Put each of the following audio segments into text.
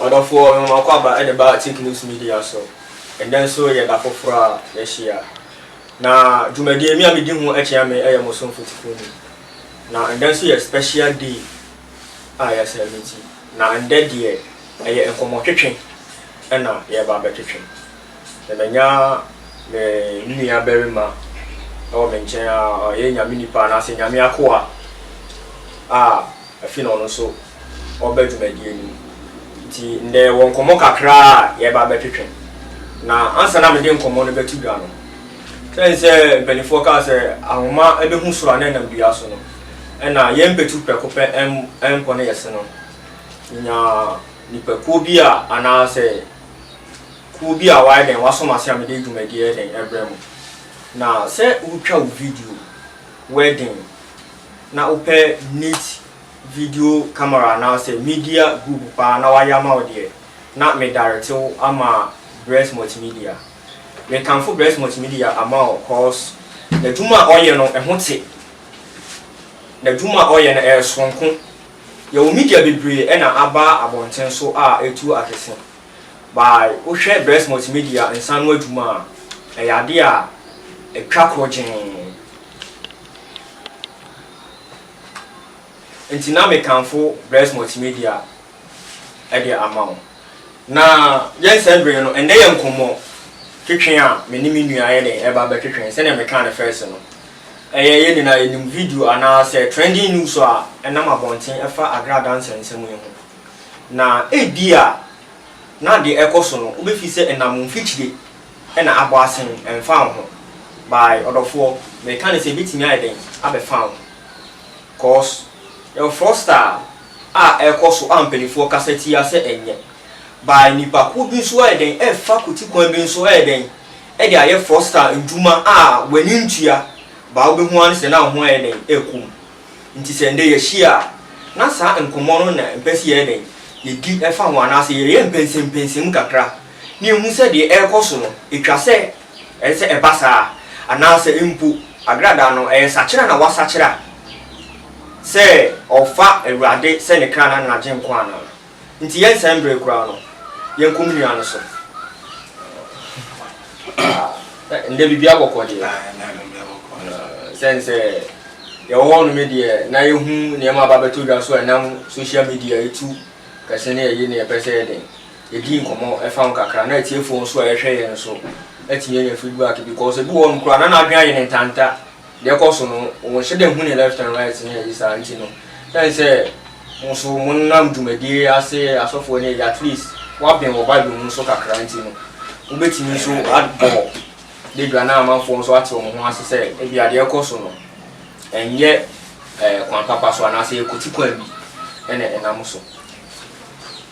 Ɔdɔfoɔ Nwoman Kwaba de ba Tik News Media so. Ɛnnɛ nso yɛ da foforɔ a yɛahyia. Na dwumadie me a medi ho akyea me yɛ mo somfo Tifuni. Na ɛnnɛ nso yɛ special day a yɛaselemeti. Na ɛnnɛ deɛ ɛyɛ nkɔmmɔtwetwe na yɛreba abɛtwetwe. Na manya me nua barima wɔ me nkyɛn a ɔyɛ Nyame nipa anaasɛ Nyame akoa a afei na ɔno nso wɔba dwumadie no mu. Nti ndɛ yɛwɔ nkɔmmɔ kakra a yɛreba abɛtwetwe. Na ansa na mede nkɔmmɔ no bɛto dwa no, sɛn sɛ mpanimfoɔ kaa sɛ ahoma bɛhu soro a na ɛnam dua so no, ɛna yɛn mpatu prɛko pɛ ɛmpɔ ne yɛse no, menyaa nnipakuo bi a anaasɛ kuo bi a wɔayɛ dɛn wɔasom ase a mede dwumadie yɛ dɛn ɛbrɛ mo. Na sɛ wotwa wo video wedding na wopɛ neat video camera anaasɛ media group paa na wayɛ ama wo deɛ, na medare tew ama Bress Multimedia. Mekamfo Bress Multimedia ama wo cause n'adwuma a ɔyɛ no ɛho te. N'adwuma a ɔyɛ no ɛyɛ soronko. Yɛwɔ media bebree ɛna aba abɔnten so a ɛretu akɛse. By wohwɛ Bress Multimedia nsa ano adwuma a, ɛyɛ adeɛ a ɛtwa korɔgyee. Enti na mekamfo Bless Multimedia de ama wo. Na yɛn nsɛmbere no, ɛnnɛ yɛ nkɔmmɔ twetwe a me ne me nua ayɛ dɛn ɛreba abɛtwetwe. Sɛnea mekaa no fɛs no, ɛyɛ yɛn nyinaa yɛnim video anaasɛ trending news a ɛnam abɔnten ɛfa Agra Adansɛ nsɛm yi ho. Na ebia na deɛ ɛrekɔ so no, wobɛfi sɛ ɛnam mfikyire. na abɔ asen ɛmfa wo ho by ɔdɔfoɔ meka no sɛ ɛbɛtumi ayɛ dɛn abɛfa wo ho cause yɛwɔ fraudster a ɛkɔ so a mpanifoɔ kasa tia sɛ ɛnyɛ by nipa kuo bi nso ayɛ dɛn ɛfa kuti kwan bi nso ayɛ dɛn ɛde ayɛ fraudster ndwuma a w'ani ntua by wobɛhu ara ne sɛ na wo ho ayɛ dɛn ɛkɔ mu nti sɛ ndɛ yɛahyia a na saa nkɔmmɔ no na mpɛ sɛ yɛyɛ dɛn yɛdi ɛfa ho anaasɛ yɛyɛ mpɛnsempɛnsem kakra. na yɛhu sɛ deɛ ɛrekɔ so no, ɛtwa sɛ ɛsɛ sɛ ɛba saa a, anaasɛ mpo agradaa no ɛyɛ sakyera na wasakyera sɛ ɔfa Awurade sɛ ne kra na n'agyenkwa anaa. Nti yɛnnsɛe mbre koraa no, yɛnkɔ mo nua no so. Ah, ndɛ biribi abɔkɔ deɛ. Ah, sɛn sɛ yɛwɔ hɔ nom deɛ na yɛhu nneɛma aba bɛtɔ dwa so a ɛnam social media ɛtu kɛse ne ɛyi ne ɛpɛ sɛ ɛden yɛdii nkɔmmɔ ɛfa ho kakra na atiefoɔ nso a yɛhwɛ yɛn nso atumi anya feedback because ebi wɔ hɔnom koraa na n'adwene ayɛ ne ntanta deɛ ɛkɔ so no wɔnhyɛ da nhu ne left and right ne ayi saa nti no ɛn sɛ mo nso monam dwumadie ase asɔfoɔ ne ayi at least woaben wɔ bible mu nso kakra nti no wobɛtumi nso abɔ badwa na amanfoɔ nso ate wɔn ho ase sɛ ebi adeɛ ɛkɔ so no ɛnyɛ ɛɛ kwan papa so anaasɛ ɛkɔti kwan bi ɛna ɛnam so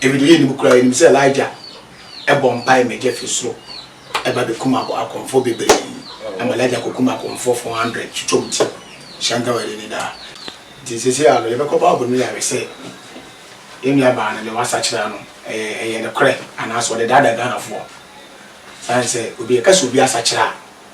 Ebɛnadze yɛnnyim koraa, yɛnyim sɛ Elijah bɔ mpae ma gya fi sor ba bekum akɔmfo beberee. Ama Elijah kokum akɔmfo 400 twitwa wɔn ti, Shanka wɔ Eleni daa. Ntsi sesei ara no, yɛbɛkɔ Bible no mu yɛahwɛ sɛ yɛn nuabaa no, dza ɔasakyer ano, ɔyɛ nokorɛ, anaasɛ ɔdedaadaa Ghanafoɔ. Osiandɛ sɛ obi, yɛka sɛ obi asakyer a,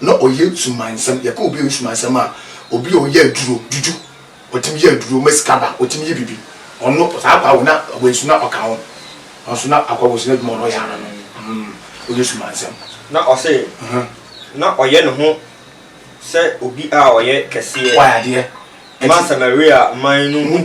na ɔyɛ sumansɛm. Yɛka obi a ɔyɛ sumansɛm a, obi a ɔyɛ aduro, juju. Ɔtumi yɛ aduro ma sika ba, ɔtumi yɛ biribi. Ɔno, saa akwadaa wei na wansu na ɔka ho. Nanso na akwadaa wansu n'adwuma a ɔno ɔyɛ ara no, ɔyɛ sumansɛm. Na ɔse, na ɔyɛ ne ho sɛ obi a ɔyɛ kɛseɛ ma Samaria man no mu.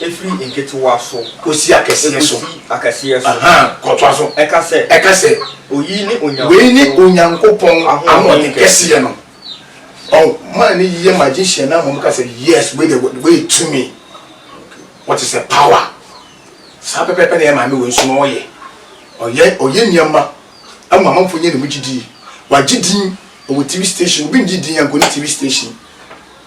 Ɛfiri nketewa so. Kɔsi akɛseɛ so. Ɛkɔsi akɛseɛ so. Ahaa, kɔtoa so. Ɛka sɛ. Ɛka sɛ. Oyi ne Onyankopɔn. Wei ne Onyankopɔn ahoɔden kɛseɛ no. Ɔn, man no yɛ magician na mmom ka sɛ, Yes, wei deɛ, wei yɛ tumi. Wɔte sɛ power. Saa pɛpɛɛpɛ na yɛn maame wei nso na ɔyɛ. Ɔyɛ, ɔyɛ nneɛma ma amanfoɔ nya ne mu gyidie. Wagye din, ɔwɔ TV station. Obi ngye din anka ɔne TV station.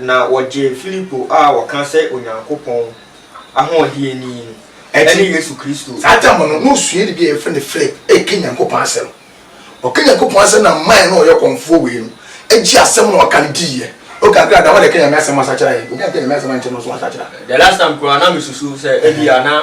na wɔgyee Filipo a wɔka sɛ Onyankopɔn ahoɔdeɛ ni no, ɛne Yesu Kristo. Saa tam no, na osuani bi a yɛfrɛ no Filip reka Nyankopɔn asɛm. Ɔka Nyankopɔn asɛm na man no a ɔyɛ ɔkɔmfoɔ wei no gyee asɛm no a ɔka no diiɛ. Okakra, dama na ɛka Nyame asɛm asakyera yɛn. Obi anka Nyame asɛm ankyerɛ no, ɔnso wansakyera. The last time koraa na me susu sɛ ebia na.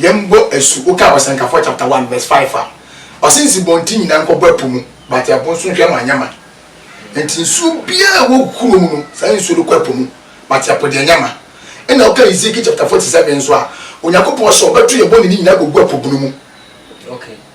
Yɛmbɔ asu, wokaa Ɔsɛnkafɔɔ chapter one verse five a, ɔse nsubɔnten nyinaa nkɔbɔ ɛpo mu, but ɛpo nso nhwɛ ma anyɛ ma. Nti nsuo biaa a ɛwɔ kuro mu no, saa nsuo no kɔ ɛpo mu, but ɛpo deɛ nyɛ ma. Ɛna woka Ezekiel chapter forty seven nso a, Onyankopɔn se ɔbɛto yɛn bɔne no nyinaa agogu ɛpo bunu mu.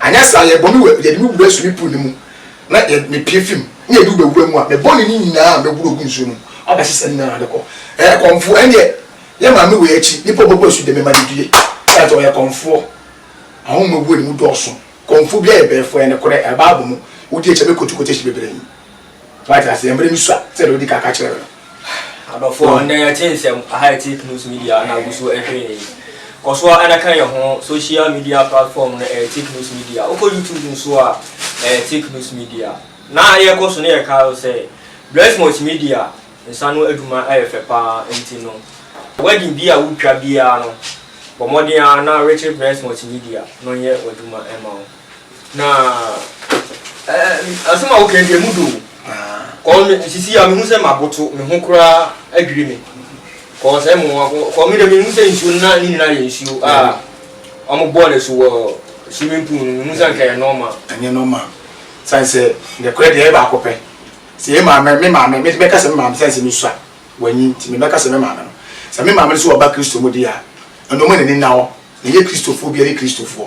Anyɛ saa a, yɛbɔ me wura, yɛde me wura sumi po no mu, na yɛ, mepue fi mu, na yɛde wo bɛwura mu a, me bɔne no nyinaa a mɛboro agu nsuo no mu abɛhye sɛ ne nyinaa de kɔ. Ɛyɛ kɔmfoɔ, ɛnneɛ yɛ maame wei akyi, nnipa a ɔbɛbɔ asu de mema no adue, ɛsiane sɛ ɔyɛ kɔmfoɔ. Ahonhom wura no mu dɔɔso. Kɔmfoɔ biara yɛ bɛɛfoɔ, ɛyɛ nokorɛ, ɛyɛ Bible mu. Wodi akyi a, mɛkɔtu quotation bebree. Wate aseɛ, mmerɛ bi sua sɛdeɛ wodi ka ka kyerɛ no. Adɔfoɔ, nnɛ yɛte nsɛm aha ɛte news media na agu so ɛhwɛ yɛn yi. Kɔ so ara na ka yɛn ho, social media platform no ɛyɛ take news media. Wokɔ YouTube nso a, ɛyɛ take news media. Na yɛkɔ so na yɛkae wo sɛ, Bless Multimedia nsa ano adwuma ɛyɛ fɛ pa ara nti no, wedding bi a wotwa biara no, bɔ mmɔden ara na Richard Bless Multimedia no nyɛ w'adwuma mma wo. Na eh, asɛm a woka deɛ mu do kɔɔ me sisi a mehu sɛ maboto me ho koraa adwiri me kɔɔ sɛ mo kɔɔ me dɛ mehu sɛ nsuo na ne nyinaa yɛ nsuo a ɔmo bɔɔ no so wɔ swimming pool no mehu sɛ nka yɛ nɔɔma ɛnyɛ nɔɔma sane sɛ nɛkorɛ deɛ yɛ baako pɛ sɛ yɛ maame me maame me bɛka sɛ me maame sane sɛ mesua wanyi nti me bɛka sɛ me maame no sɛ me maame no so wɔba kristo mu deɛ a ɛnɔma n'ani na hɔ na yɛ kristofoɔ bi a yɛ kristofoɔ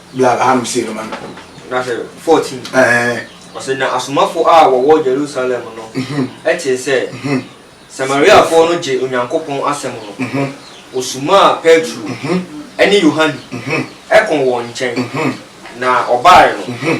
bla bla ano sei no ma no. Na sɛ fourteen. Ɛɛ. Ɔsɛ na asomafo a wɔwɔ Jerusalem no tee sɛ Samariafo no gye Onyankopɔn asɛm no, wosumaa Petro ne Yohane kɔɔ wɔn nkyɛn, na ɔbae no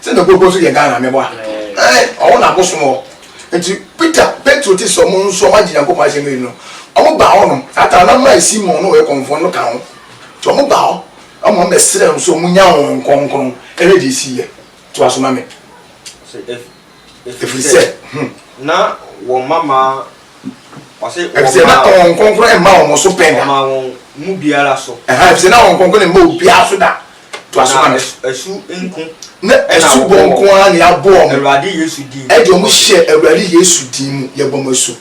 Sɛ na Koko nso yɛ Ghana mɛboa. Ɛɛ, ɔwɔ n'abosom hɔ. Nti Peter, Petro te sɛ wɔn nso wɔagye Nyankopɔn asɛm adi no, wɔbaa hɔnom. Saa taa na mmaa Simon ne wɔyɛ kɔmfoɔ no ka ho. Nti wɔbaa hɔ na wɔbɛsrɛɛ wɔn sɛ wɔnnya Honhom Kronkron. Ɛhwɛ deɛ ɛsiiɛ. Toa so ma me. Ɔse, Ef, Ɛfiri sɛ, hmm. na wɔn mamaa, ɔse, Ɛfiri sɛ na wɔmaa Honhom Kronkron mma wɔn so pɛn da. Wɔmaa wɔn mu biara so. Ɛhaa, ɛfiri sɛ na Honhom Kronkron mma obiara so da. Toa so ka no. Na asu nko. Na asu bɔ nko ara na yɛabɔ wɔn. Awurade Yesu din mu. Ɛde wɔn hyɛ Awurade Yesu din mu. Yɛbɔ mo asu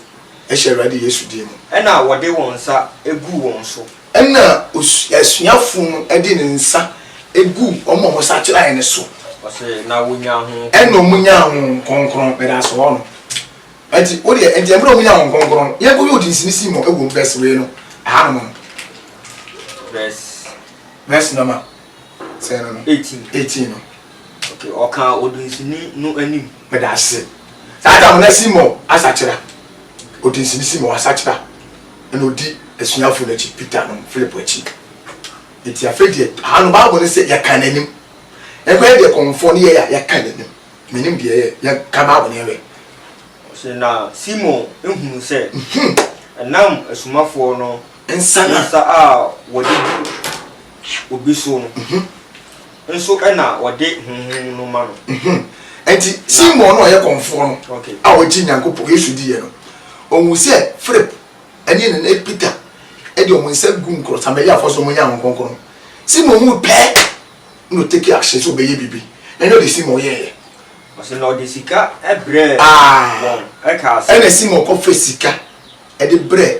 hyɛ Awurade Yesu din mu. Ɛnna wɔde wɔn nsa guu wɔn so. Ɛnna asuafo no de ne nsa guu wɔn a wɔsakyerae no so. Ɔse, na wɔnyaa Honhom Kronkron. Ɛnna wɔnyaa Honhom Kronkron. Meda ase, wɔn no. Ɛnti, wo deɛ, ɛnti ɛmmerɛ a wɔnyaa Honhom Kronkron no, yɛnkɔyɛ odinsini Simon wɔ mu, verse wei no, ɛhanom no. Verse. Verse number sɛn no no? Eighteen. Eighteen no. Okay, ɔka odinsini no anim. Meda ase. Saa Adam na si mɔ asakyera. Odinsini si mɔ asakyera. Ɛna odi asuafo no akyi, Peter no, Philip akyi. Eti afei deɛ, ha no Bible no sɛ yɛka n'anim. Ɛkɔ yɛ deɛ kɔmfoɔ no yɛɛ a yɛka n'anim. Menim deɛ ɛyɛ, yɛka Bible no yɛhwɛ. Ɔse na Simon hunu sɛ ɛnam asomafoɔ no Nsa no. Nsa a wɔde gu obi so no nso na wɔde honhom no ma no. Enti Simon no a ɔyɛ kɔmfoɔ no a ɔgye Nyankopɔn, Yesu diiɛ no, ɔhuu sɛ Philip ne ne ne Peter de wɔn nsa gu nkurɔ, Samariafoɔ so wɔnya Honhom Kronkron no, Simon hui pɛɛ na ɔtake action sɛ ɔbɛyɛ biribi. Na ɛnyɛ ɔde Simon yɛeɛ. Ɔse na ɔde sika brɛɛ wɔn kaa sɛ. Ɛna Simon kɔfɛ sika de brɛɛ.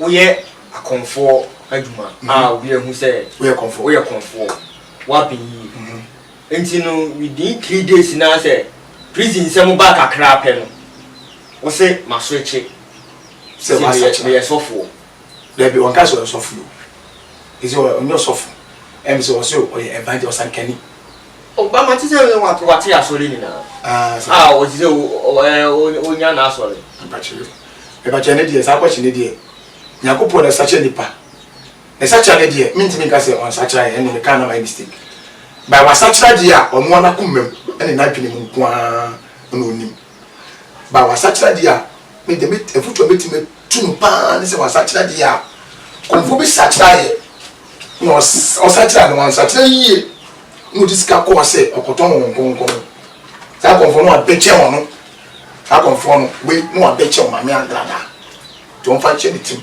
Woyɛ akɔmfoɔ adwuma a obiara hu sɛ woyɛ kɔmfoɔ, woyɛ kɔmfoɔ, woaben yie. Nti no within three days no ara sɛ prison nsɛm ba kakra pɛ no, wo se maswitche sɛ meyɛ sɔfoɔ. Dabi, ɔnkae sɛ ɔyɛ ɔsɔfo yi o. He said ɔnyɛ ɔsɔfo. Ɛm sɛ ɔse ɔyɛ evangelist, ɔsankani. O ba mate sɛ wate wate asɔre nyinaa. Ah sa. Ah wɔte sɛ o ɛɛ onya na asɔre. Mpakyɛ mpakyɛ ne deɛ saa kɔkye ne deɛ nyakopɔ na sakyɛ nipa ne sakyera ne deɛ mentimi nka sɛ ɔnsakyera yɛ ɛne meka na mayɛ mistake by wasakyera deɛ a ɔnoa nakomam ɛne nadwene mu nkoaa na onim. Ba wasakyera deɛ a, me deɛ me afutuo a mɛtumi atu no paa ne sɛ wasakyera deɛ a, kɔmfoɔ bi sakyera yɛ na ɔsakyera no wansakyera yie na ɔde sika kɔɔ sɛ ɔkɔtɔn wɔn nkɔnkɔn no, saa kɔmfoɔ no wabɛkyɛ wɔn no, saa kɔmfoɔ no wei na wabɛkyɛ wɔn maame angradaa nti wɔmfa nhyɛ ne tirim.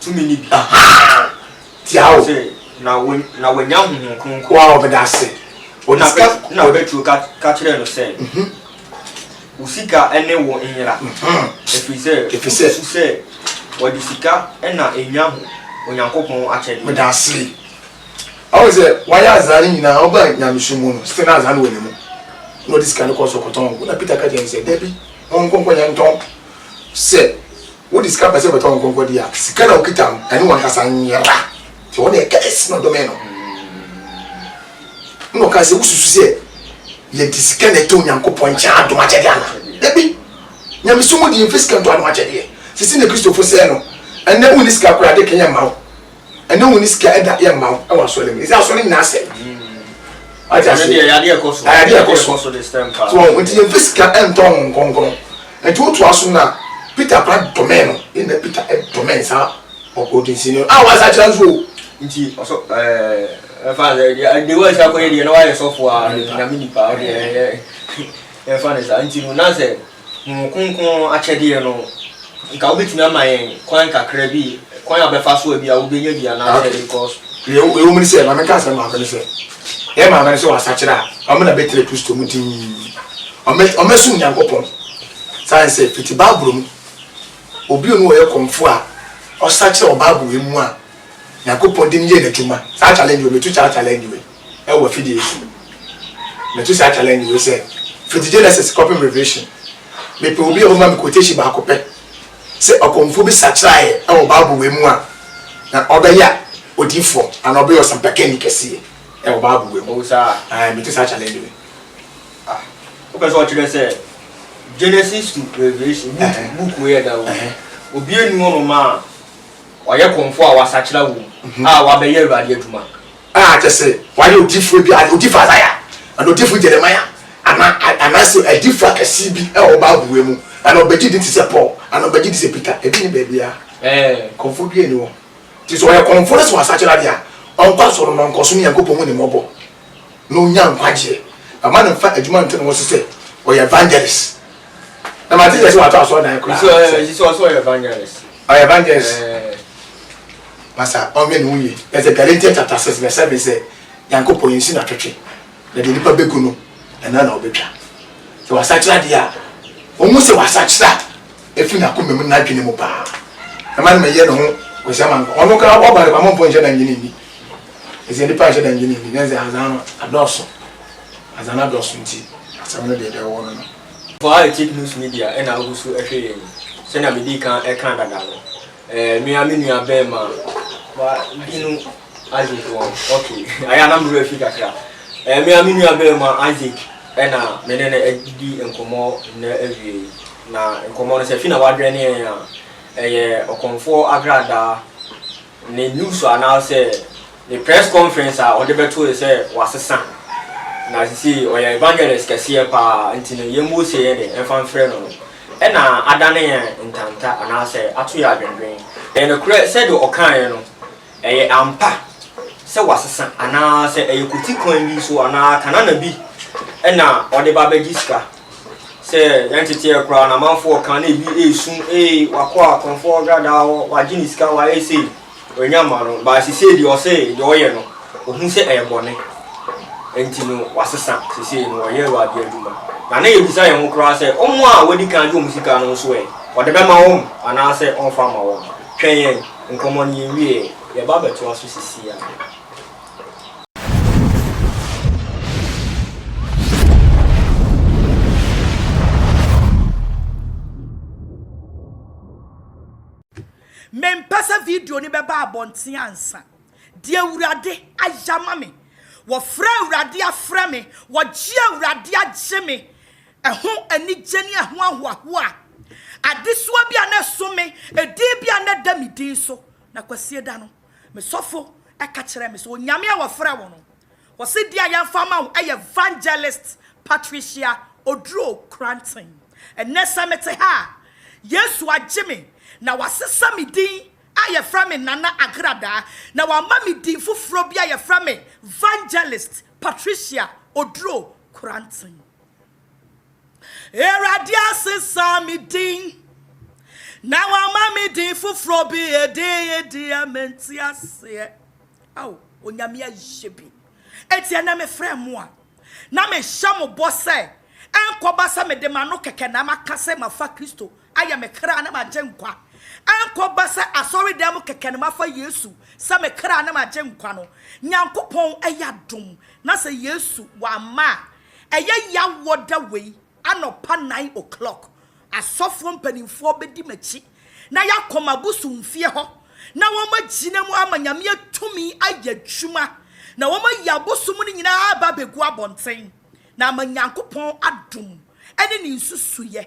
tumi no bi. Tia o. Na wo na wanya honhom kronkron. Wa ɔbɛda ase. Ɔde sika. Na Petro ka ka kyerɛɛ no sɛ. Wo sika ne wo nyera. Ɛfiri sɛ wosusu sɛ wɔde sika na enya Onyankopɔn akyɛdeɛ. Meda ase. Ɔhu sɛ wayɛ azaa no nyinaa ɔba nyamesu mu no still na azaa no wɔ ne mu. Na ɔde sika no kɔɔ so kɔtɔn ngo na Peter ka kyerɛɛ no sɛ dabi ɔnkɔ nkɔyɛ ntɔn sɛ. Wode sika pɛ sɛ wobɛtɔ wo nkonko adeɛ a, sika no a wokita no, ɛne w'ankasa nyera. Nti ɔno deɛ curse na ɔdomee no. Ɛna ɔkaa sɛ, Wosusu sɛ yɛde sika na ɛtɔ Onyankopɔn nkyɛn adom akyɛdeɛ anaa? Dabi! Nyamesom mu deɛ yɛmfa sika ntɔ adom akyɛdeɛ. Seesei na Kristofo sɛe no. Ɛnnɛ wonni sika koraa a, ade ka yɛmma wo. ɛne wo ne sika ɛda yɛ mma wo ɛwɔ asɔre mu ɛsɛ asɔre nyinaa sɛ wate ase ayade ɛkɔ so so wɔn nti yɛn fɛ sika ɛntɔ ho nkɔnkɔn nti wotu aso na peter kora dɔmɛn no ɛna peter ɛdɔmɛn saa ɔkɔdinsi no a wasa kyerɛ nso o nti ɔsɔ ɛɛ ɛfa sɛ deɛ deɛ wɔn nsa akɔyɛ deɛ na wɔayɛ sɔfo a nyame nipa ɔdeɛ ɛyɛ ɛfa ne saa nti no na sɛ Honhom Kronkron no akyɛdeɛ no, nka wobɛtumi ama yɛn kwan kakra bi, kwan a wobɛfa so a bi a wobɛnya bi anaasɛ because. Deɛ ɛwɔ mu ne sɛ, ma menka asɛm baako ne sɛ, yɛn maame no sɛ wɔasakyera a, wɔn na bɛtena Kristo mu dinn, wɔasom Nyankopɔn. Sane sɛ, fiti Bible mu, obi ɔne ɔyɛ kɔmfoɔ a ɔsakyera wɔ Bible mu a, Nyankopɔn de no yɛ n'adwuma. Saa challenge wei, metu saa challenge wei. wɔ afidie yi so. Meto saa challenge wei sɛ, fiti Genesis kɔpem Revelation, mepɛ obi a ɔbɛma me quotation baako pɛ sɛ ɔkɔmfoɔ bi sakyeraaeɛ wɔ Bible wei mu a na ɔbɛyɛ odiyifoɔ anaa ɔbɛyɛ ɔsɛmpakani kɛseɛ wɔ Bible wei mu. Ae, meto saa challenge wei. Ah, wopɛ sɛ ɔkyerɛ sɛ Genesis to Revelation book book wei ɛda wɔ mu. Obiara nni hɔnom a ɔyɛ kɔmfoɔ a wasakyera wɔ mu a wabɛyɛ Awurade adwuma. A kyerɛ sɛ, wɔayɛ odiyifoɔ bi, odiyifoɔ Isaiah, anaa odiyifoɔ Jeremiah, anaa, anaasɛ adiyifoɔ akɛseɛ bi wɔ Bible mu, anaa ɔbɛgye di te sɛ Paul, anaa ɔbɛgye di sɛ Peter. Ebi nni baabiara. Ɛɛ, kɔmfoɔ biara nni hɔ. Nti sɛ ɔyɛ kɔmfoɔ no sɛ wɔasakyera deɛ a, ɔnkɔ asɔre na ɔnkɔ so ne Nyankopɔn hu ne mmɔbɔ na ɔnya nkwagyeɛ. But ma no mfa adwuma nto ne ho so sɛ ɔyɛ evangelist. na ma ti yɛ sɛ wato asɔrɔ dan kura. sɛ ɔyɛ sɛ ɔsɛ ɔyɛ evangelist. ɔyɛ evangelist. pasa ɔnyɛ ne ho yie ɛsɛ Galatians chapter six verse seven sɛ nyankopɔn yɛn si na twetwe na deɛ nipa bɛgu no ɛna na ɔbɛtwa sɛ wasakyera deɛ a ɔmu sɛ wasakyera ɛfiri n'akoma mu n'adwene mu paa ɛma no ma yɛ ne ho kɔsi ama nkɔ ɔno kora ɔba ne ba mɔmpɔ nhyɛ da ngyene nni ɛsɛ nipa nhyɛ da ngyene nni na ɛsɛ azan no adɔɔso Ansa na dɔso nti asɛm no de dɛ ɔwɔ no no. Faa Etik News Media na agu so hwɛ yɛn yi. Sɛnea midii kan kaa dada no, me ara me nua barima bi no, Isaac wɔ hɔ. Okay, ayɛ a na me werɛ afi kakra. Me ara me nua barima Isaac na me ne no adi nkɔmmɔ nnɛ awia yi. Na nkɔmmɔ no, sɛ fi na woadwɛn yɛn a, ɛyɛ ɔkɔmfoɔ agradaa. Ne news anaasɛ ne press conference a ɔde bɛtoe sɛ wasesa na sesei ɔyɛ evangelist kɛseɛ paa nti no yɛn Mose yɛ dɛ mfa mfrɛ no no na adane yɛn ntanta anaasɛ ato yɛn adwendwen. Ɛyɛ nokorɛ sɛdeɛ ɔkaeɛ no, ɛyɛ ampa sɛ wasesa anaasɛ ɛyɛ kwati kwan bi so anaa Kanana bi na ɔde ba bɛgye sika? sɛ yɛn teteɛ koraa na amanfoɔ ka na ebi esu ee wakɔ a kɔnfoɔ gradaa hɔ wagye ne sika wayɛ sei ɔnya ma no baa sisei deɛ ɔsɛ deɛ ɔyɛ no ohun sɛ ɛyɛ bɔne nti no wasesa sisei no ɔyɛ awurade adwuma na na yɛbisa yɛn ho koraa sɛ wɔn a wɔadi kan gye wɔn sika no nso ɛ ɔde bɛma wɔn anaasɛ ɔmfa ma wɔn twɛn yɛn nkɔmmɔ no yɛn wie yɛba abɛtoa so sisi a. Mempɛ sɛ video no bɛba abɔnten ansa. Deɛ Awurade ayɛ ama me, wɔfrɛ Awurade afrɛ me, wɔgye Awurade agye me, ɛho anigye ne ɛho ahoahoa, adesoa bi a na ɛso me, edin bi a na ɛda me din so, na Kwasieda no, Me sɔfo ka kyerɛɛ me sɛ Onyame a wɔfrɛ wo no, wɔ CD a yɛmfa ama wo yɛ Vangelist Patricia Oduro Cranton. Ɛnnɛ sɛ mete ha a, Yesu agye me na wasesa me din a yɛfrɛ me Nana Agradaa na wama me din foforɔ bi a yɛfrɛ me Vangelist Patricia Oduro Cranton. Awurade asesa me din, na wama me din foforɔ bi, edin yi deɛ mente aseɛ. Ao, Onyame ayɛ bi. Enti ɛnɛ mefrɛ mo a, na mehyɛ mo bɔ sɛ, ɛnkɔba sɛ mede m'ano kɛkɛ na maka sɛ mafa Kristo Ayɛ me kra ne m'agyenkwa. Ɛnkɔba sɛ asɔredan mu kɛkɛ na mafa Yesu sɛ me kra ne m'agyenkwa no, Nyankopɔn ɛyɛ adom na sɛ Yesu wamma a, ɛyɛ yaw wɔ da wei anɔpa nine o'clock, asɔfoɔ mpaninfoɔ bɛdi m'akyi na yɛakɔ m'abosomfie hɔ na wɔagyina mu ama Nyame atumi ayɛ adwuma na wɔayi abosom no nyinaa aba abɛgu abɔnten na ama Nyankopɔn adom ne ne nsusuiɛ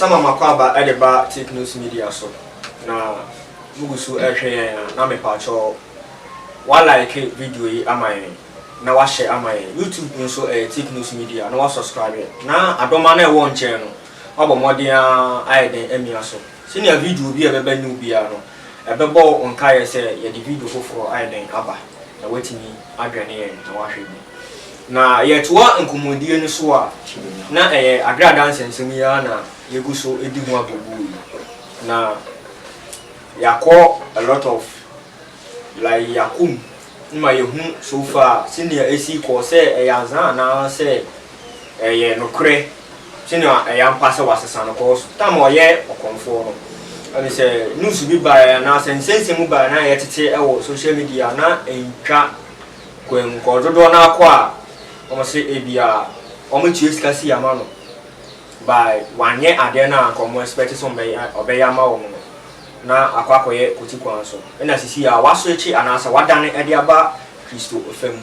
Sama Makwaaba de ba Take Notes Media so na mugu so rehwɛ yɛn a na mepaakyɛw wa like video yi ama yɛn na wa share ama yɛn. YouTube nso ɛyɛ Take Notes Media na wa subscribe na adɔma no a ɛwɔ nkyɛn no wabɔ mmɔden ara ayɛ den amia so. Sɛnea video bi a ɛbɛba new biara no, ɛbɛbɔ wo nkaeɛ sɛ yɛde video foforɔ ayɛ dɛn aba, na woatumi adwɛne yɛn na woahwɛ bi. Na yɛretoa nkɔmmɔdie no so a, na ɛyɛ agradaa nsɛmnsɛm yi ara na yɛgu so di ho agogoɔ yi, na yɛakɔ a lot of. Lai Yakum no ma yehu so far sɛnea esi kɔ, sɛ ɛyɛ azaa anaasɛ ɛyɛ nokorɛ, sɛnea ɛyɛ ampa sɛ wɔasesa no kɔɔ so. Tam a ɔyɛ ɔkɔmfoɔ no, ɔde sɛ news bi baeɛ anaasɛ nsɛnsɛm bi baeɛ na yɛtete wɔ social media a, na ɛntwa kwan mu kɔ. Dodoɔ no ara kɔ a, wɔse ebia wɔtua sika si ama no, but wanyɛ adeɛ no a anka wɔexpect sɛ ɔbɛyɛ ama wɔn no. na akɔ akɔyɛ kwati kwan so na sisi a wɔaswɛkye anaasɛ wɔadane de aba Kristo fam.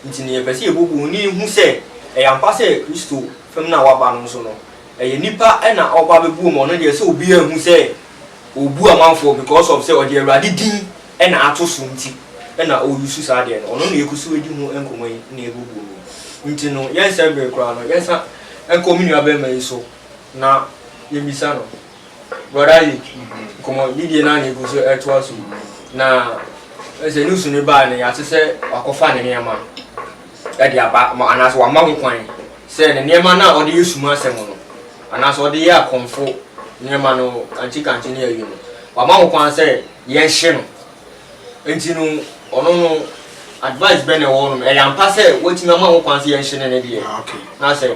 Nti no yɛpɛ sɛ yɛbubu no na yɛhu sɛ ɛyɛ ampa sɛ Kristo fam no a wɔaba no nso no ɛyɛ nipa na ɔba bɛbuo ma ɔno deɛ sɛ obiara nhu sɛ ɔrebu amanfoɔ because of sɛ ɔde Awurade din na ato so nti na ɔreyusu saa deɛ no. Ɔno na yɛgu so di ho nkɔmmɔ yi na yɛbubu no yi. Nti no yɛnsɛ bere koraa no yɛnsa nkɔ me nuabarima yi so na yɛmmisa no. Brɔda Ayi, nkɔmmɔdidie no a na ɛgu so ɛtoa so yi, na sɛ news no baa no yɛate sɛ wakɔfa ne nneɛma de aba ma anaasɛ wama ho kwan sɛ ne nneɛma no a ɔde yɛ suma asɛm no anaasɛ ɔde yɛ akɔmfo nneɛma no kantikante ne ayi no wama ho kwan sɛ yɛnhye no nti no ɔno no advice bɛn na ɛwɔ nom ɛyɛ ampa sɛ watumi ama ho kwan sɛ yɛnhye ne ne deɛ ah, na sɛ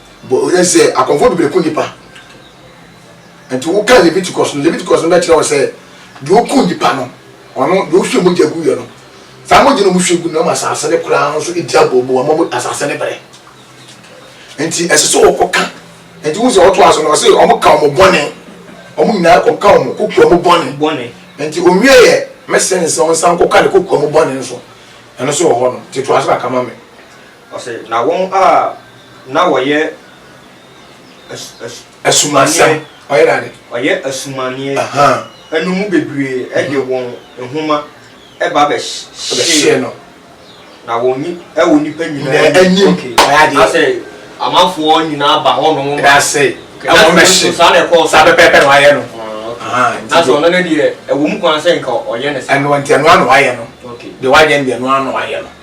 Bɔ werɛ sɛ akɔmfo bebree ko nnipa. Enti wokan Leviticus no, Leviticus no bɛkyerɛ wo sɛ deɛ ɔku nnipa no, ɔno deɛ ɔhwie mogya guiɛ no, saa mogya no ɔhwie gu no ama asase no koraa nso di abooboo ama asase no brɛ. Enti ɛsɛ sɛ wɔkɔka. Enti wohu sɛ ɔtoa so no, ɔse wɔka wɔn bɔne, wɔn nyinaa kɔka wɔn kokoa mu bɔne. Bɔne. Enti ɔwie yɛ, mɛsɛn sɛ wɔnsan nkɔka ne kokoa mu bɔne nso. Ɛno nso wɔ hɔ no, nti toa so na ka ma me. Ɔse, na wɔn a na wɔyɛ asumanneɛ, wɔyɛ asumanneɛ no mu bebree de wɔn nwoma ba bɛhyee no, na wɔ nnipa nyinaa anim, na sɛ amanfoɔ nyinaa ba hɔ nom ma, nanso saa na ɛkɔɔ so, na sɛ ɔno no deɛ ɛwɔ mu koraa sɛ nka ɔyɛ ne saa.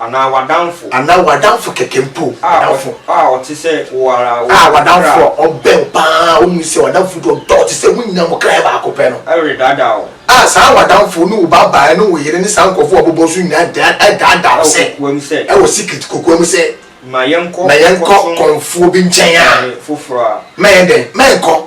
Anaa w'adamfo. Anaa w'adamfo kɛkɛ mpo. W'adamfo. A ɔte sɛ wo ara. A w'adamfo a ɔbɛn wo pa ara a wohu sɛ w'adamfo bi a ɔdɔ wo te sɛ wo nyinaa mo kra yɛ baako pɛ no. Redaadaa wo. A saa w'adamfo ne wo babaa ne wo yere ne saa nkurɔfo a wɔbobɔ wo so nyinaa daadaa wo sɛ. Wɔ kokoa mu sɛ. Wɔ secret kokoa mu sɛ. Ma yɛnkɔ. Ma yɛnkɔ kɔmfoɔ bi nkyɛn a. Foforɔ a. Ma yɛn dɛn? Ma yɛnkɔ.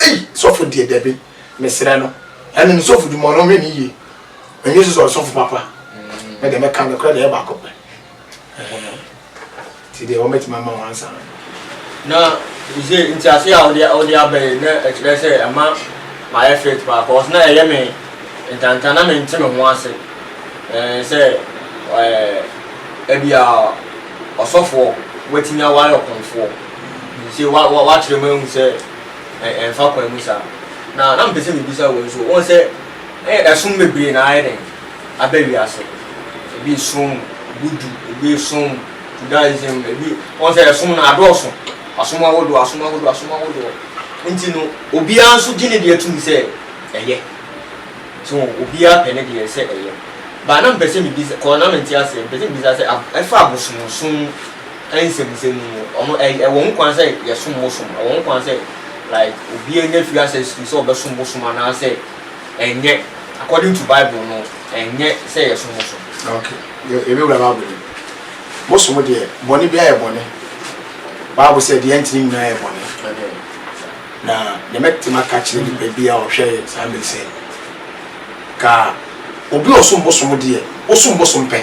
Ei sɔfo deɛ dabi mesrɛ no ɛne no sɔfo dwuma ɔno ɔnhwɛ ne yie ɛnyɛ sɛ sɛ ɔyɛ sɔfo papa me deɛ mɛka nokorɛ deɛ ɛyɛ baako pɛ nti deɛ wɔbɛtumi ama wɔn ansa no na sɛ ntiase a wode wode aba yi na ɛkyerɛ sɛ ɛma mayɛ fit paa cause na ɛyɛ me ntantan na mente me ho ase ɛɛ sɛ ɛɛ ebi a ɔsɔfoɔ watumi aware ɔkɔmfoɔ nti wa wa wakyerɛ mu ehu sɛ ɛ ɛmfa kwan mu saa. Na na mepɛ sɛ mebisa wei nso, wohu sɛ ɛ ɛsom bebree na ayɛ dɛn aba wiase. Ebi resom Budu, ebi resom Judaism, ebi wohu sɛ ɛsom no adɔɔso, asom ahodoɔ, asom ahodoɔ, asom ahodoɔ. Nti no, obiara nso gye ne deɛ tom sɛ ɛyɛ. So obiara pɛ ne deɛ sɛ ɛyɛ. But na mepɛ sɛ mebisa, cause na mente aseɛ, mepɛ sɛ mebisa sɛ ab ɛfa abosomsom Nsɛmnsɛm mu no, ɔno ɛ ɛwɔ ho kwan sɛ yɛsom bosom. Ɛwɔ ho kwan sɛ like obiara nya firi ase asisi sɛ ɔbɛsom bosom anaasɛ ɛnyɛ. According to Bible no, ɛnyɛ sɛ yɛsom bosom. Ok, yɛ yɛbɛwura Bible no mu. Bosom deɛ, bɔne biara yɛ bɔne. Bible sɛ deɛ ɛntene nyinaa yɛ bɔne. Amen. Na deɛ mɛte maka akyerɛ nipa bi a ɔhwɛ yɛ saa mmerɛ yi sɛ, ka obi a ɔsom bosom deɛ, wosom bosom pɛ.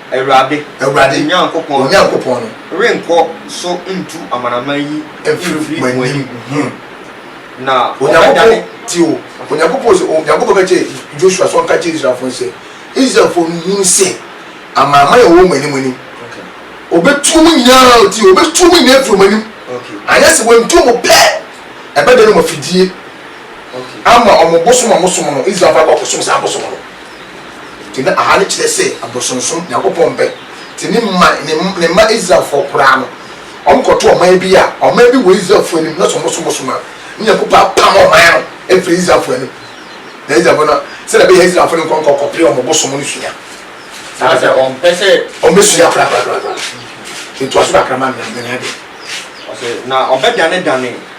Awurade. Awurade. Mo Nyankopɔn. Mo Nyankopɔn no. Renkɔ so ntu amanaman yi. Mfiri mo anim. Ho. Na ɔbɛdane. Tio, Onyankopɔn se, Onyankopɔn ka kyerɛɛ Joshua sɛ ɔnka nkyerɛ Israelfoɔ no sɛ, Israelfoɔ no nhunu sɛ, amanaman a wɔwɔ mo anim no, wɔbɛtu mo nyinaa, tio, wɔbɛtu mo nyinaa afiri wɔn anim, anyɛ sɛ wɔantu mo pɛ, ɛbɛdane wɔn afidie, ama wɔn bosom a mosom no, Israelfoɔ no, wɔakɔsom saa abosom no. Enti na Ahane kyerɛ sɛ abosonsom, Nyankopɔn mpɛ. Enti ne mma, ne mma Israelfoɔ koraa no, wɔkɔto ɔman bi a, ɔman bi wɔ Israelfoɔ anim, na sɛ wɔsom bosom a, na Nyankopɔn apam ɔman no afiri Israelfoɔ anim. Na Israelfoɔ no, sɛdeɛ ɛbɛyɛ a Israelfoɔ no nkɔ nkɔkɔpere wɔn bosom no sua, anaasɛ wɔmpɛ sɛ wɔbɛsua koraa koraa koraa, ntoaso kakra ma me, na manya adeɛ. Ɔse, na ɔbɛdanedane.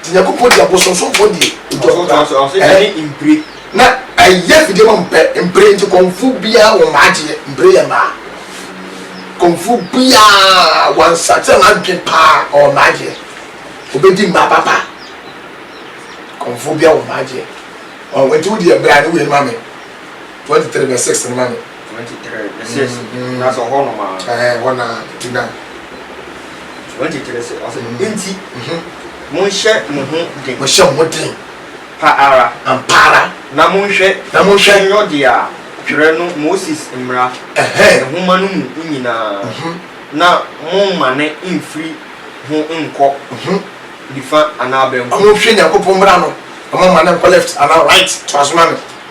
Nti Nyankopɔn gye abosonsomfoɔ die nti ɔsoro saa ɛɛ na ɛyɛ afidie ma mpɛ mpire nti kɔmfoɔ biara wɔ mmaa gyeɛ mpire yɛ mmaa kɔmfoɔ biara wansa sɛ wadwen paa ɔwɔ mmaa gyeɛ obɛdi mmaa papa kɔmfoɔ biara wɔ mmaa gyeɛ ɔn nti wo deɛ bra ne wei no ma me 23 verse 6 no ma me Twenty three ne se na sɛ ɔhɔ nom aa. Ɛɛ ɛhɔ na nti na. Twenty three se ɔse nti monhyɛ mo ho den. Monhyɛ mo ho den. Pa ara. Ampa ara. Na monhwɛ. Na monhwɛ. Nyɔ dea twerɛ no Moses mmara. Ɛhɛɛ. Nwoma no mu nyinaa. Mh. Na mommane mfiri ho nkɔ. Mh. Nifa anaa benkum. Monhwɛ Nyankopɔn mmara no na mommane nkɔ left anaa right. Toa so ma me.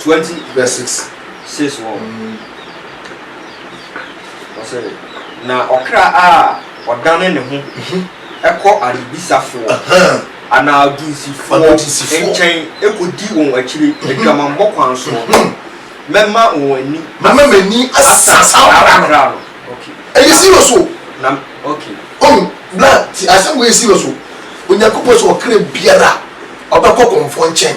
Twenty verse six. Six wɔ. Ɔsɛ na ɔkra a ɔdane ne ho kɔ adebisafoɔ anaa adusifoɔ nkyɛn kɔdi wɔn akyire adwamammɔ kwan soɔ no, mɛma wɔn ani. Mɛma m'ani asa saa ɔkra no. Ɛyɛ serious o. Na okay. Ohun bla ti asɛm wei yɛ serious o. Onyankopɔn sɛ ɔkra biara ɔbɛkɔ kɔmfoɔ nkyɛn.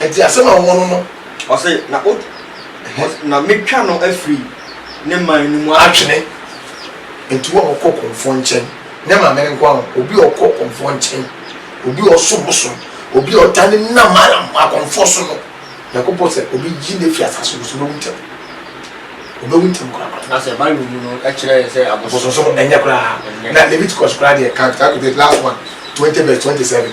Enti asɛm a wɔwɔ no no. Ɔse, na o, ɔse, na metwa no afiri ne man no mu atwene. Enti wo a ɔkɔ ɔkɔmfoɔ nkyɛn, nyɛ maame no nko ara o, obi a ɔkɔ ɔkɔmfoɔ nkyɛn, obi a ɔsom bosom, obi a ɔtaa ne nam ara ma akɔmfoɔ so no, Nyankopɔn se, obeyi no afi asase no so, obewu ntɛm. Obewu ntɛm koraa. Na sɛ Bible mu no kyerɛ yɛn sɛ abosom. Abosom so no, ɛnyɛ koraa. Na Leviticus koraa deɛ, kan, chapter twenty eight, last one, twenty verse twenty seven.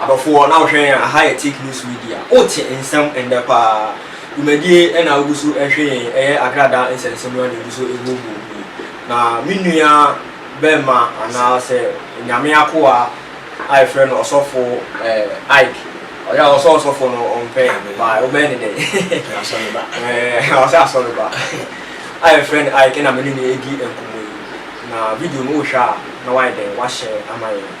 Adɔfoɔ na wohwɛ yɛn aha yɛ Take News Media wote nsɛm ɛndɛ paa dwumadie ɛna wogu so ɛhwɛ yɛn ɛyɛ agradaa nsɛnsɛmua na ɛgu so ɛhuohuo mu yi na me nua bɛɛma anaa sɛ Nyame akoa a yɛfrɛ no ɔsɔfo ɛɛ Ike ɔyɛ a ɔsɔ ɔsɔfo no ɔmpɛ ba wobɛyɛ ne dɛ ɛɛ ɔsɛ asɔ no ba a yɛfrɛ no Ike na me ne no ɛdi nkɔmɔ yi na video no wohwɛ a na wayɛ dɛ wahyɛ ama yɛn.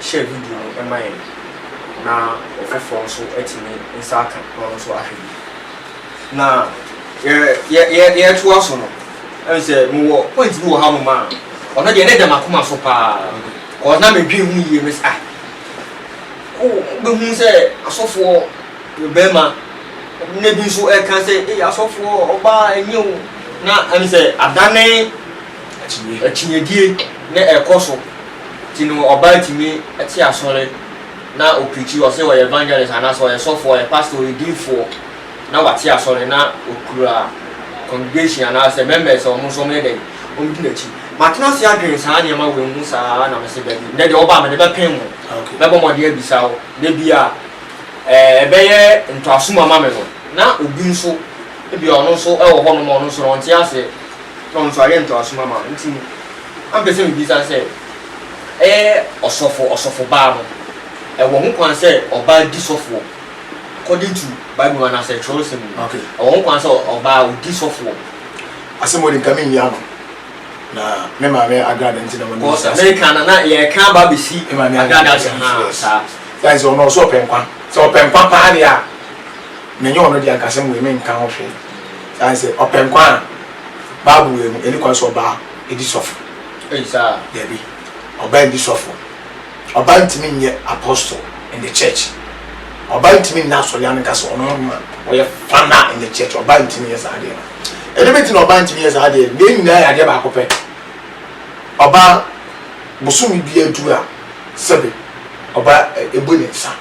hyɛɛ video no ma yɛn na ɔfoforɔ nso atumi nsa aka ɔno nso ahwɛ bi. Na yɛretoa so no, ɛne sɛ mewɔ point bi wɔ ha nom a ɔno deɛ ne da m'akoma so paa kɔɔ na medwene ho yie me sɛ ah wobɛhu sɛ asɔfoɔ bɛrima na bi nso ɛka sɛ asɔfoɔ ɔbaa ɛnyɛ o na ɛne sɛ adane Akyinnyedie ne ɛkɔ so ti no ɔbaa tumi te asɔre na ɔprikyi ɔse ɔyɛ evangelist anaa sɛ ɔyɛ sɔfoɔ ɔyɛ pastor ɔyɛ diifoɔ na wate asɔre na ɔkura congregation anaa sɛ members a ɔmo nso ɔmo yɛ dɛn ɔmo di n'akyi matena ase adwen saa nneɛma wei ho saa na mese dabi nnɛ deɛ wobaa mede bɛpem mo mɛbɔ mmɔden abisa wo da bi a ɛɛ ɛbɛyɛ ntɔasum ama me no na obi nso ebi a ɔno nso ɛwɔ hɔ nom a ɔno nso no ɔnte aseɛ na ɔno nso ayɛ ntoasom ama no nti na mepɛ sɛ mebisa sɛ, ɛyɛ ɔsɔfo, ɔsɔfobaa no, ɛwɔ ho kwan sɛ ɔbaa di sɔfoɔ according to Bible mu anaasɛ twerɛsɛm mu? Okay. Ɛwɔ ho kwan sɛ ɔbaa ɔdi sɔfoɔ? Asɛm wɔ de nka menni ano na me maame agrada nti na wɔnim sɛ Amerika na na yɛka aba abɛsi agrada ase haa saa. Yɛn sɛ ɔno ɔsɛ ɔpɛ nkwa sɛ ɔpɛ nkwa paa deɛ a Me nye ɔno dze akasɛm wei mennka ho hwee, osian sɛ ɔpɛ nkwa a, Bible wei mu, nnyi kwan sɛ ɔbaa di sɔfo. Dabi, ɔbaa nndi sɔfo. Ɔbaa nntumi nnyɛ apostle in the church. Ɔbaa nntumi nna asɔre ano nka sɛ ɔno na ɔyɛ founder in the church. Ɔbaa nntumi nnyɛ saa adeɛ no. Ɛdeɛ bɛnti na ɔbaa nntumi nnyɛ saa adeɛ no? Deɛ nyinaa yɛ adeɛ baako pɛ. Ɔbaa, bosome biara du a, sɛbe ɔbaa ɛbu ne nsa.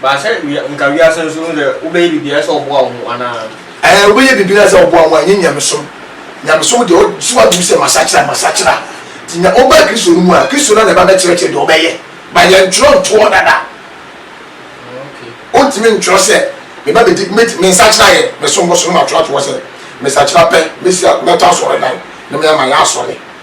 But sɛ wia nka wiase nso no dɛ wobɛyɛ biribiara sɛ ɔboa wo ho anaa? Ɛɛ wobɛyɛ biribiara sɛ ɔboa wo ho a ɛnyɛ nyamesom. Nyamesom deɛ ɔso aduru sɛ masakyera a masakyera. Nti nya wobaa Kristo no mu a Kristo no ara na ɛba bɛkyerɛkyerɛ deɛ wobɛyɛ. But yɛntwerɛ ntoɔ dada. Wontumi ntwerɛ sɛ meba bɛdi mɛdi mensakyera yɛ mesom bosom na matwerɛ ato hɔ sɛ mesakyera pɛ mɛsi mɛtɔ asɔredan na me ama yɛ asɔre.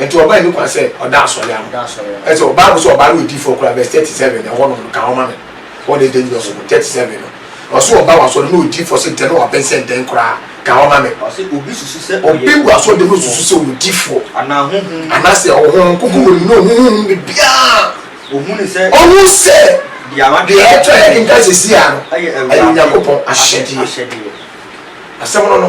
Nti wɔbɛn ne kwan sɛ ɔda asɔre ano. Ɛsɛ wɔ Bible sɛ ɔbaa no yɛ diifoɔ koraa verse thirty seven na ɛhɔ nom no ka ho ma me wɔn ɛyɛ dangerous no thirty seven no ɔsɛ ɔba wɔ asɔre no na ɔyɛ diifoɔ sɛ ntɛn na waben sɛ ntɛn koraa ka ho ma me obi wɔ asɔre dɛm na ɔsusu sɛ ɔyɛ diifoɔ anaasɛ ɔwɔ honhom kronkron wɔ ne mu na ɔhu honhom no biribiara ɔhu sɛ deɛ ɛtɔ a yɛkenkan sɛsi a no ɛyɛ Onyankopɔn ahyɛdeɛ asɛm no no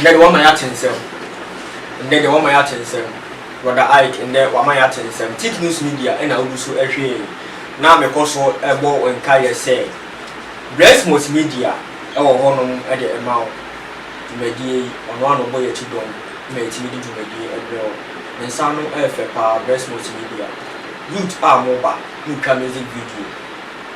Ndɛ de wama yɛate nsɛm Ndɛ de wama yɛate nsɛm Brɔda Ike ndɛ wama yɛate nsɛm Tik News Media na wogu so hwɛ yi Na mekɔ so bɔ wo nkaeɛ sɛ Bless Multimedia wɔ hɔ nom de ma wo Dwumadie yi ɔno ara na ɔbɔ yɛn akyi dɔm ma yɛtumi de dwumadie brɛ wo Ne nsa ano yɛ fɛ paa Bless Multimedia Youth a mo ba mo twa music video.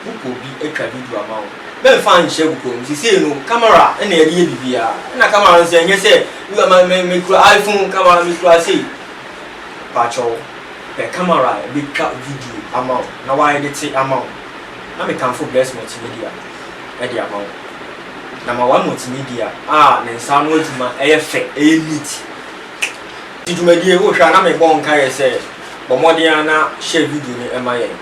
Bukoo bi atwa video ama wo. Mɛmfa nhyɛ bukoo no mu. Seesei no, camera na yɛde yɛ biribiara. Ɛna camera no nso, ɛnyɛ sɛ wura ma me mekura iPhone camera mekura sei. Pakyɛw, pɛ camera a ɛbɛtwa video ama wo na wɔaɛdete ama wo. Na mekamfo Bless Multimedia de ama wo. Na ma wɔ Multimedia a ne nsa ano adwuma yɛ fɛ, ɛyɛ neat. Ti dwumadie, wohwɛ a na mebɔ nkaeɛ sɛ, bɔ mmɔden ara na share video no ma yɛn.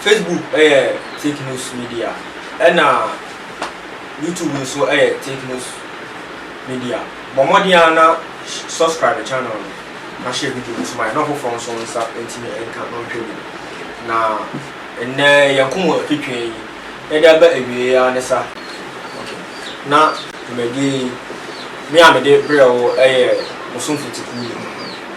Facebook yɛ Take Notes Media ɛna YouTube nso yɛ Take Notes Media. Bɔ mmɔden ara na subscribe channel no na hyɛ video no nso ma yɛn na ɔfoforɔ nso nsa ntumi nka na ɔnhwɛ bi. Na nnɛ yɛn nkɔmmɔ twetwe yi yɛde aba awieɛ ara ne sa. Okay. Na dwumadie yi me a mede brɛ wo yɛ Bosomfo Tikuo ni.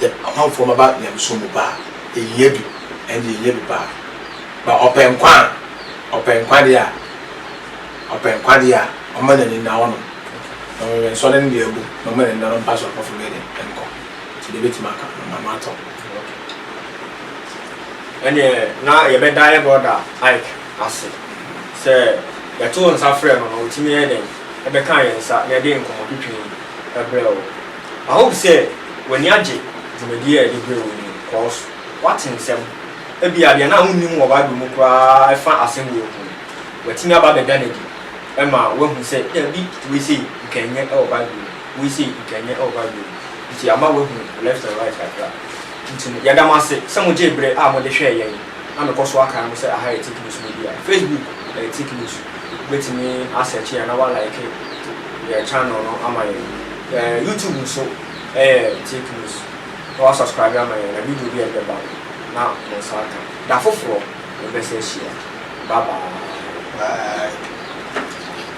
yɛ ɔmanfoɔ mma ba nyamesom mu ba a, yɛhia bi, ɛnde yɛhia bi paa. Ba ɔpɛ nkwa a, ɔpɛ nkwa deɛ a, ɔpɛ nkwa deɛ a, ɔmma n'ani nna hɔnom, na ɔnwɛnsɔ ne nne agu, na ɔmma n'ani nna no mpa soronko fam yɛde nkɔ. Nti deɛ mɛtumi aka no, mama atɔ. Ɛnneɛ na yɛbɛda yɛ brɔda Ike ase sɛ yɛtoo nsa frɛɛ no na ɔtumi yɛɛ dɛn bɛkaa yɛn nsa na ɛde nkɔmmɔtwitwi brɛɛ wo. I hope sɛ w'ani agye dwumadie a yɛde brɛ wo yi ho cos woate nsɛm. Ebia deɛ na wonnim wɔ Bible mu koraa a ɛfa asɛm wei ho no, watumi aba abɛda no adi ma woahu sɛ dabi wei sei nka ɛnyɛ wɔ Bible mu, wei sei nka ɛnyɛ wɔ Bible mu. Nti ama woahu left and right kakra. Nti no, yɛda mo ase sɛ mogyee berɛ a mode hwɛɛ yɛn. na mekɔ so akae mo sɛ aha yɛ tech news media, facebook yɛ tech news, wobɛtumi a search yɛn na wa like yɛn channel no ama yɛn, yɛn youtube nso yɛ tech news na wa subscribe ama yɛn na video biara ɛde bɛba no na mo nsa aka, da foforɔ yɛbɛsan ahyia, bye bye. Bye.